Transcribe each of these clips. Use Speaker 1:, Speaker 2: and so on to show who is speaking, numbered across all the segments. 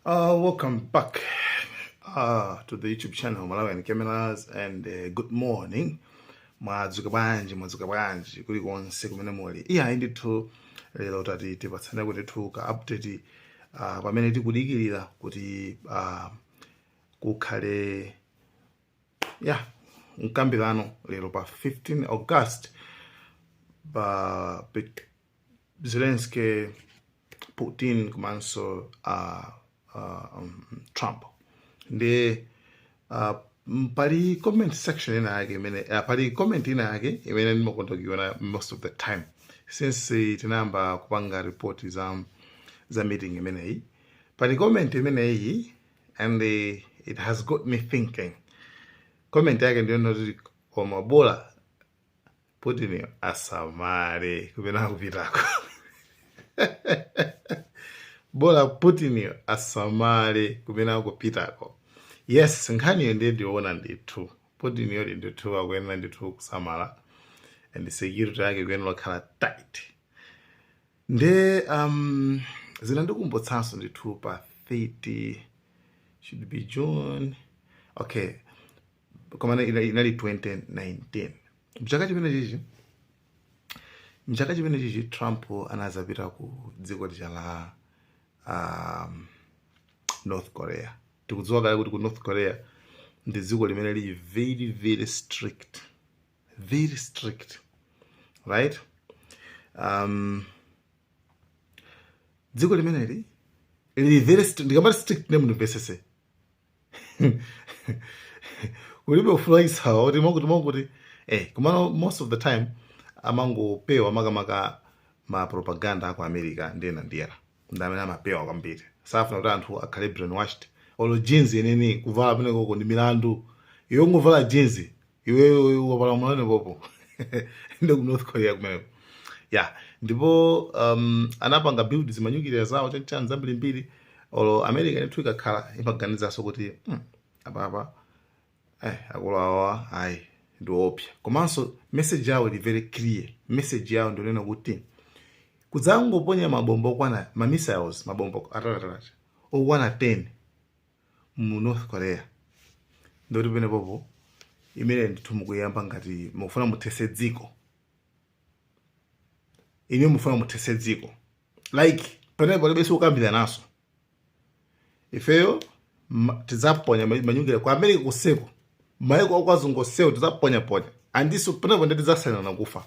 Speaker 1: Uh, welcome back uh, to the YouTube channel Malawian Cameras and uh, good morning. Mwadzuka bwanji, mwadzuka bwanji kuli konse kumene muli. Iya indithu lero tati tipatsane ndithu ka update uh, pamene tikudikirira kuti uh, kukhale mkambirano lero pa 15 August pa pit- zelensky putin komanso uh, uh, um, trump ndiye uh, m- pali comment section ina yake imene uh, pali comment ina yake imene ndimakonda kuiona most of the time since eh, tinayamba kupanga report za za meeting imeneyi pali comment imeneyi and eh, it has got me thinking comment yake ndiyonoti koma bola putini asamale kupena kupitako bola putiniyo asamale kumene akupitako yes nkhaniyo ndiye ndi yoona ndithu putiniyo ndithu akuyenera ndithu kusamala and security yake ikuyenera kukhala tight nde um, zinandikumbutsanso ndithu pa 30 should be june okay koma ina- ina- inali 2019 mchaka chimene chija mchaka chimene chija trump anadzapita ku dziko lija la um, north korea tikudziwa kale kuti ku north korea ndi dziko limene lili very very strict very strict right um, dziko limeneli lili very strict ndikamati strict mundimvetsetse kulibe ufulu kuti mokuti mokuti eh, komano most of the time amangopewa makamaka ma propaganda aku america ndinena ndiye ndi amene amapewa kwambiri safuna kuti anthu akhale brainwashed olo jeans yeneni kuvala kumenekoko ndi milandu ungovala jeans iwewe wapalamula pompo ndi ku north korea kumeneko ya ndipo um, anapanga build zimanyukiliya zawo chanchani zambirimbiri olo america ndithu ikakhala imaganizanso kuti hmm, apapa eh, akulu awa ayi ndi oopsa komanso message yawo ili very clear message yawo ndi yonena kuti kudzangoponya mabomba okwana ma missiles mabomba ataliatali okwana 10 mu north korea ndiye kuti pamenepopo inuyo ndithu mukuyamba ngati mukufuna muthetse dziko imene mufuna muthetse dziko like pamene palibe zokambirananso ifeyo ma- tidzaponya ma- manyukiliya ku america konseko maiko a kwa azungu onsewo tidzaponyaponya and isoo pamenepo nde tidzasainirana kufa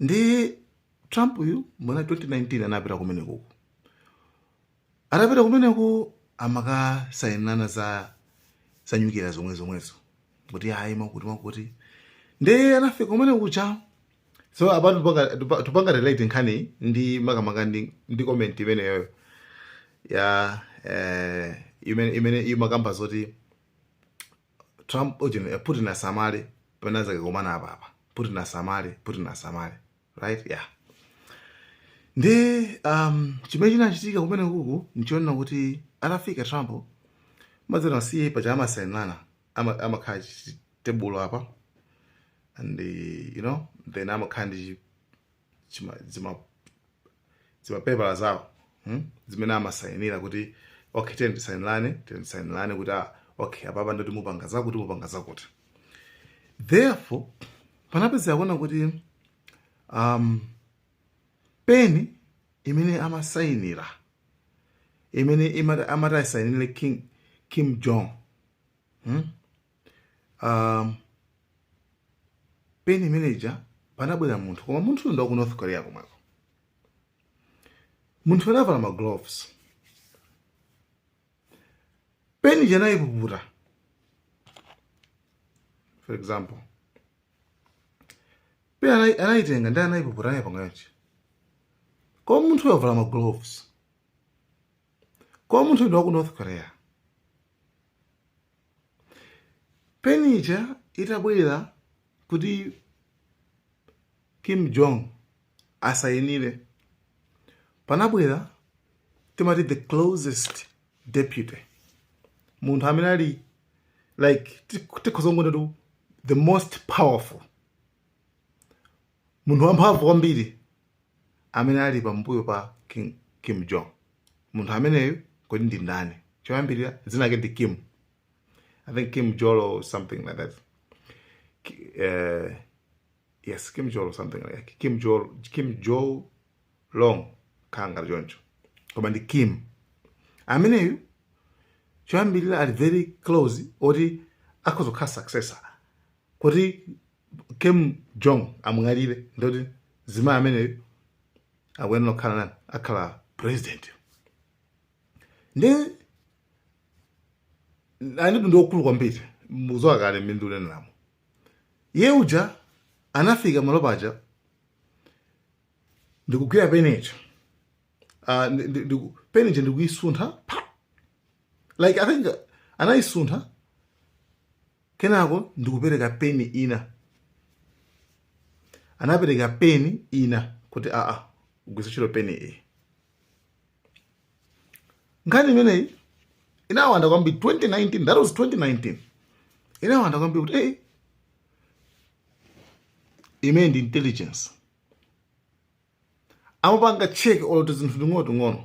Speaker 1: ndi trump uyu mwana 2019 anapita kumenekuku atapita kumeneko amakasainirana za za nyukira zomwe zomwezo kuti ayi makuti makuti ndi anafika kumene kuja so apa tupanga- tupa- tupanga relate nkhani ndi makamaka ndi, ndi comment imeneyoyo ya eh, imene imene imakamba zoti Trump ujeni eh, Putin asamale penapake akakumana apa apa Putin asamale Putin asamale right yeah ndi um, chimene chinachitika kumene kuku nchionena kuti atafika Trump ma- zija paja amasainirana amakhala pa tebulo apa and you know then amakhala ndi chima- zima- zimapepala zawo hmm? zimene amasayinira kuti okay tiyeni tisayinirane tiyeni tisayinirane kuti ah, okay apapa ndoti mupanga zakuti mupanga zakuti therefore panapezeka kunena kuti um, peni imene amasayinira imene imati- amati asayinire king kim jong hmm? um, peni imene ija panabwera munthu koma munthuyo ndi wa ku north korea komweko munthu anavala ma gloves peni ija anayipuputa for example peni anayi- anayitenga ndi anayipuputa nayipanga chonchi koma munthuyo wavala ma gloves koma munthuyo ndi wa ku north korea Peni ija itabwera kuti Kim Jong asayinire, panabwera timati the closest deputy, munthu amene ali like tikhoza kungonena kuti the most powerful munthu wamphamvu kwambiri amene ali pambuyo pa King Kim Jong. Munthu ameneyu kodi ndi ndani? Choyambirira dzina lake ndi Kim. I think Kim Jong or something like that. Uh, yes, Kim Jong or something like that. Kim Jong Kim Jong Long kapena choncho. Koma ndi Kim. Ameneyu choyambirira ali very close oti akhoza kukhala successor kuti kim jong amwalire ndoti mzimayi ameneyo akuyenera kukhala ndani akhale president ndiyenetu ndi wamkulu kwambiri muzowa kale mindu unenelamo iye uja anafika malo paja ndikugwira penecho uh, peni ija ndikuyisuntha like i think anayisuntha Kenako ndikupereka peni ina. Anapereka peni ina kuti aa, ugwiritse ntchito peni iyi. Nkhani imeneyi inawanda kwambiri 2019, that was 2019. Inawanda kwambiri kuti eh, imene ndi intelligence amapanga check olo tizinthu ting'onoting'ono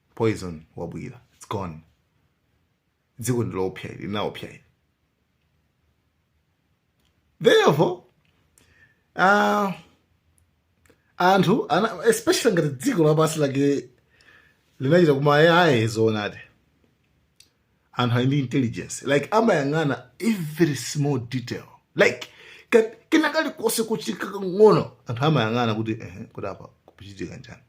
Speaker 1: poison wabwila it's gone dziko ndiloopsa ili linaoopsa ili therefore uh, anthu aa, especially ngati dziko lapansi lake likuchitika umu ayayi zoonadi anthu ali ndi intelligence like amayang'ana every small detail like ka- kena kalikonse kuchitika kang'ono anthu amayang'ana kuti ehe kuti apa kukuchitika chani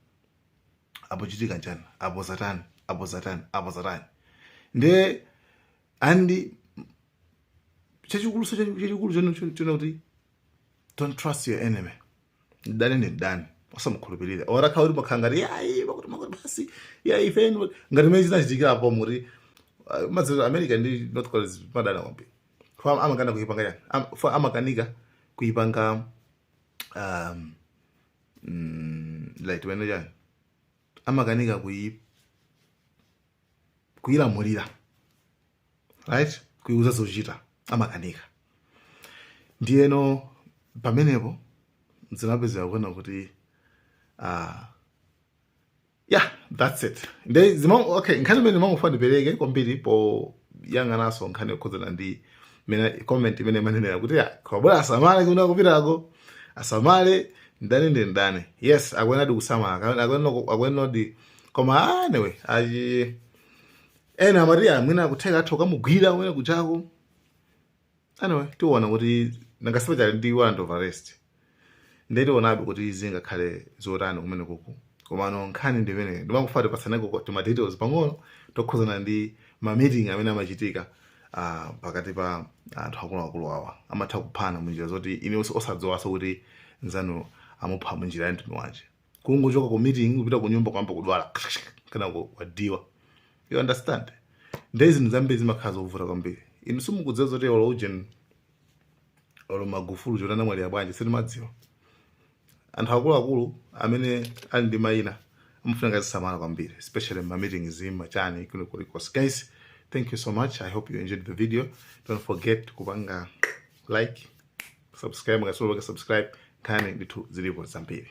Speaker 1: apo chachitika chani apo zatani apo zatani apo zatani nde and chachikulu so chachikulu n'chonena kuti don't trust your enemy mdani ni mdani osamukhulupirira olo akhale kuti mumakhala ngati ayi zakuti zakuti basi ayi ifeyo ngati mmene zinachitikira apo muli uh, mazero america ndi north korea madana kwambiri amakana kuipanga chani Am- for amakanika kuipanga um, mm, like timanena chani amakanika kuyi kuyilamulira right kuyiuza zochita amakanika ndiyeno pamenepo zina upezeka ukuona kuti uh, yeah that's it nde zima okay nkhani imene ndimangofuna ndipereke kwambiri poyang'ananso nkhani yokhudzana ndi mmene comment imene imanenera kuti ya Chakwera asamale kumene akupitako asamale ndani ndi ndani yes akuyenadi kusamala Aka- akuyenera- akuyenadi koma ah, anyway ayi ena amati mwina kutheka atha kukamugwira kumene akupitako anyway tiona kuti nanga si paja ali ndi warrant of arrest nde tionabe kuti zingakhale zotani kumene kuku komano nkhani ndi imeneyo ndimakufuna tipatsaneko tima details pang'ono tokhuzana ndi ma meeting amene amachitika ah, pakati pa anthu akuluakulu awa amatha kuphana munjira zoti inu osadziwaso kuti nzanu amupha munjira ya mtundu wanji kungochoka ku meeting kupita ku nyumba kwamba kudwala kosadziwa you understand ndiye zinthu zambiri zimakhala zovuta kwambiri inu simukudziwa zoti olo ujeni olo magufulu zoti anamwalira bwanji sitimadziwa anthu akuluakulu amene ali ndi mayina amafunika azisamala kwambiri especially ma meetings machani kuno kulikonse guys thank you so much i hope you enjoyed the video don't forget kupanga like subscribe ngati sunapange subscribe nkhani ndithu zilipo zambiri